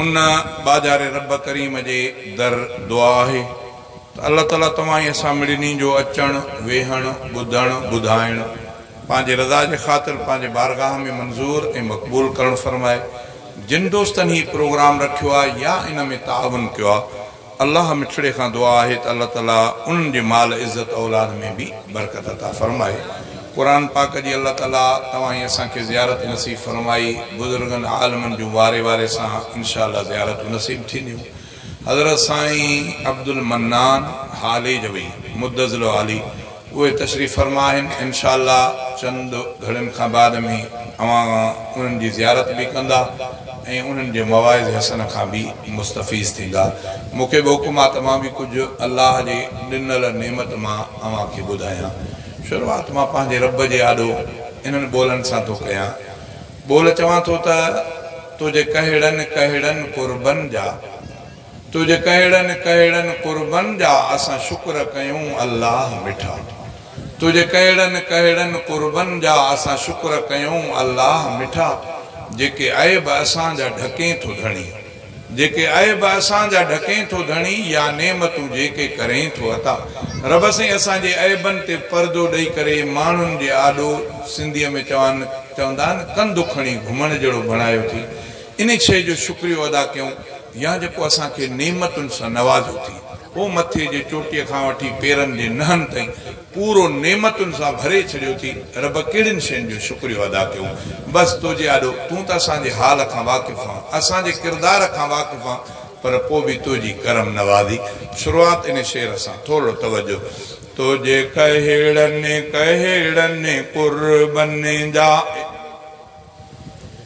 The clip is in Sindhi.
ان ٻاجهاري رب ڪريم جي در دعا آهي ته الله تعاليٰ توهان ۽ اسان مڙني جو اچڻ، ويهڻ، ٻڌڻ، ٻڌائڻ پنهنجي رضا جي خاطر پنهنجي بارگاهه ۾ منظور ۽ مقبول ڪرڻ فرمائي. جن دوستن هي پروگرام رکيو آهي يا ان ۾ تعاون ڪيو آهي، الله مٺڙي کان دعا آهي ته الله تعالي انهن جي مال عزت اولاد ۾ به برڪت عطا فرمائي قرآن پاڪ جي الله تعالي توهان ۽ اسان کي زيارت نصيب فرمائي بزرگن عالمن جون واري واري سان انشاء الله زيارتون نصيب ٿينديون حضرت سائين عبدالمنان هاليجوي مدظله عالي اهي تشريف فرما آهن، انشاء الله چند گهڙين کان بعد ۾ اوهان انهن جي زيارت به ڪندا ۽ انهن جي مواعظ حسنه کان به مستفيض ٿيندا. مون کي به حڪم آهي ته مان به ڪجهه الله جي ڏنل نعمت مان اوهان کي ٻڌايان. شروعات مان پنهنجي رب جي آڏو انهن ٻولن سان ٿو ڪيان. ٻول چوان ٿو ته، تنهنجي ڪهڙن ڪهڙن قربن جا. تنهنجي ڪهڙن ڪهڙن قربن جا اسان شڪر ڪيون الله مٺا تنهنجي ڪهڙن ڪهڙن قربن جا اسان شڪر ڪيون الله مٺا جيڪي عيب اسان جا ڍڪين ٿو ڌڻي جيڪي عيب اسان جا ڍڪين ٿو ڌڻي يا نعمتون جيڪي ڪرين ٿو عطا رب سائين اسان جي عيبن تي پردو ڏئي ڪري ماڻهن جي آڏو سنڌي ۾ چوان چوندا آهن ڪنڌ کڻي گهمڻ جهڙو بڻايو ٿي انهي شيء جو شڪريو ادا ڪيون يا جيڪو اسان کي نعمتن سان نوازيو ٿي. هو مٿي جي چوٽيء کان وٺي پيرن جي نهن تائين پورو نعمتن سان ڀري ڇڏيو ٿي. رب ڪهڙين شين جو شڪريو ادا ڪيون. بس توجي آڏو. تون ته اسان جي حال کان واقف آن. اسان جي ڪردار کان واقف آن. پر پو به توجي ڪرم نوازي. شروعات انهي شعر سان. ٿورڙو توجه. توجي ڪهڙن ڪهڙن قربن جا.